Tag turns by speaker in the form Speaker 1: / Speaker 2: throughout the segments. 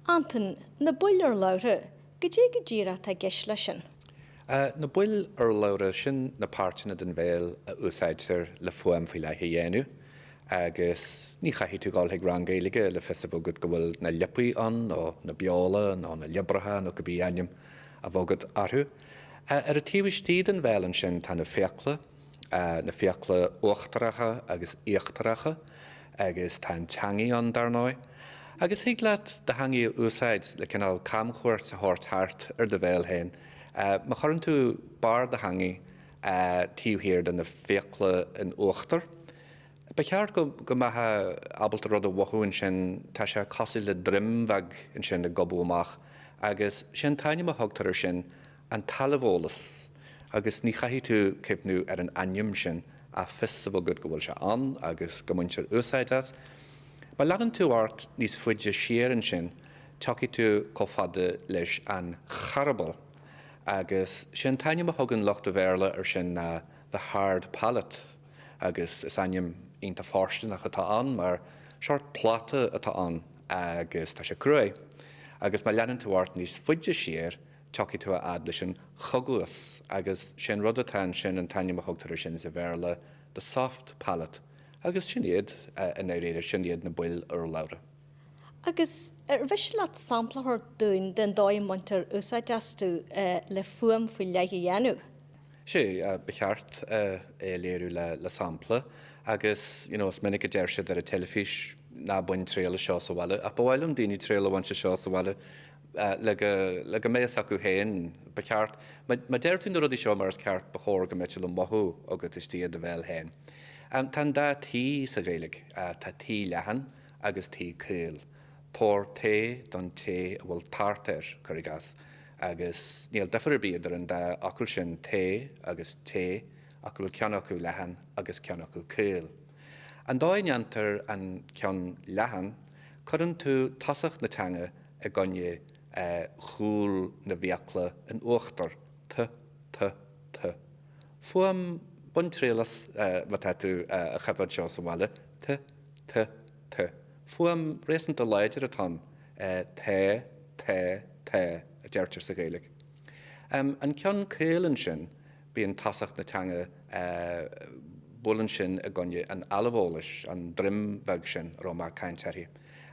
Speaker 1: Antain, Na baill urlabhra, cad é go díreach atá i gceist leis sin? Na
Speaker 2: baill urlabhra, sin na páirteanna den bhéal a úsáidtear le fuaim faoi leith a dhéanamh. Agus ní chaithfidh tú a ghabháil chuig rang Gaeilge le fios a bheith agat go bhfuil na liopaí ann, nó na beola, nó na liobracha, nó cibé ainm a bheadh agat orthu. Ar an taobh istigh den bhéal ansin tá na fiacla. na fiacla uachtaracha agus íochtaracha, agus tá an teangaidh ann, dar ndóigh, agus thig leat do theangaidh a úsáid le cineál camchuairt a thabhairt thart ar do bhéal féin, má chuireann tú barr do theangaidh taobh thiar de na fiacla in uachtar. Ba cheart go mbeifeá ábalta rud a mhothú ansin, tá sé cosúil le droim bheag ansin ag gobadh amach, agus 'sé an t-ainm a thugtar air sin an t-ailbheolas agus ní chaithfidh tú cuimhniú ar an ainm sin ach fios a bheith agat go bhfuil sé ann agus go mbaintear úsáid as. Má leanann tú ort níos faide siar ansin tiocfaidh tú chomh fada leis an charball agus sé an t-ainm a thugann lucht an Bhéarla air sin the hard palate agus is ainm iontach fóirsteanach atá ann mar seort pláta atá ann agus tá sé cruaidh agus má leanann tú ort níos faide siar Tiocfaidh tú a fhad leis an choguas agus sé an rud atá ansin, an t-ainm a thugtar air sin sa Bhéarla, the soft palate, agus sin iad, i ndáiríre, sin iad na baill urlabhra. Agus
Speaker 1: ar mhiste leat sampla a thabhairt dúinn den dóigh a mbaintear úsáid astu le fuaim faoi leith a dhéanamh?
Speaker 2: Sea, ba cheart é a léiriú le sampla. Agus, you know, is minic a deir siad ar an teilifís, ná bain triail as seo sa bhaile. Ach ba mhaith liom daoine triail a bhaint as seo sa bhaile. le go mbeidh fhios acu féin. Ba cheart. Má deir tú na rudaí seo mar is ceart ba chóir go mbeadh siad le mothú agat istigh i do bhéal féin. Tá an dá T sa Ghaeilge. Tá T leathan agus T caol. Tabhair tae don té a bhfuil tart air, cuir i gcás, agus níl difear ar bith idir an dá fhocal sin, tae agus té, ach go bhfuil ceann acu leathan agus ceann acu caol. An dóigh a ndéantar an ceann leathan, cuireann tú tosach na teanga, i gcoinne chúl na bhfiacla in uachtar, tu, tu, tu. Fuaim, bain triail as, má tá tú a choimhéad seo sa bhaile, tu, tu, tu. Fuaim réasúnta láidir atá ann, tae, tae, tae a deirtear sa Ghaeilge. An ceann caol ansin, bíonn tosach na teanga, buaileann sin i gcoinne an ailbheolais, an droim bheag sin a raibh mé ag caint uirthi,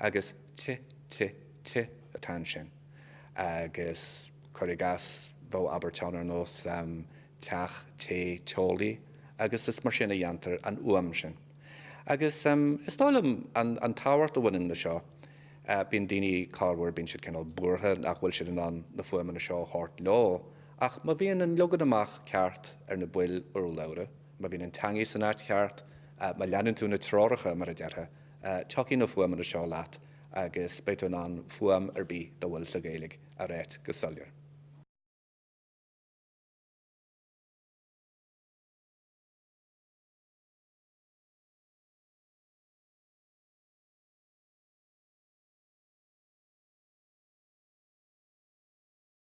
Speaker 2: agus, ti, ti, ti atá ansin. Agus cuir i gcás, bheadh abairt ann ar nós teach, té, teolaí agus is mar sin a dhéantar an fhuaim sin. Agus is dóigh liom, an tábhacht a bhaineann le seo, bíonn daoine corruair, bíonn siad cineál buartha nach bhfuil siad in ann na fuaimeanna seo a thabhairt leo, ach má bhíonn an leagan amach ceart ar na baill urlabhra, má bhíonn an teangaidh san áit cheart, má leanann tú na treoracha, mar a déarfá, Tiocfaidh na fuaimeanna seo leat agus beidh tú in ann fuaim ar bith dá bhfuil sa Ghaeilge a ráit go soiléir.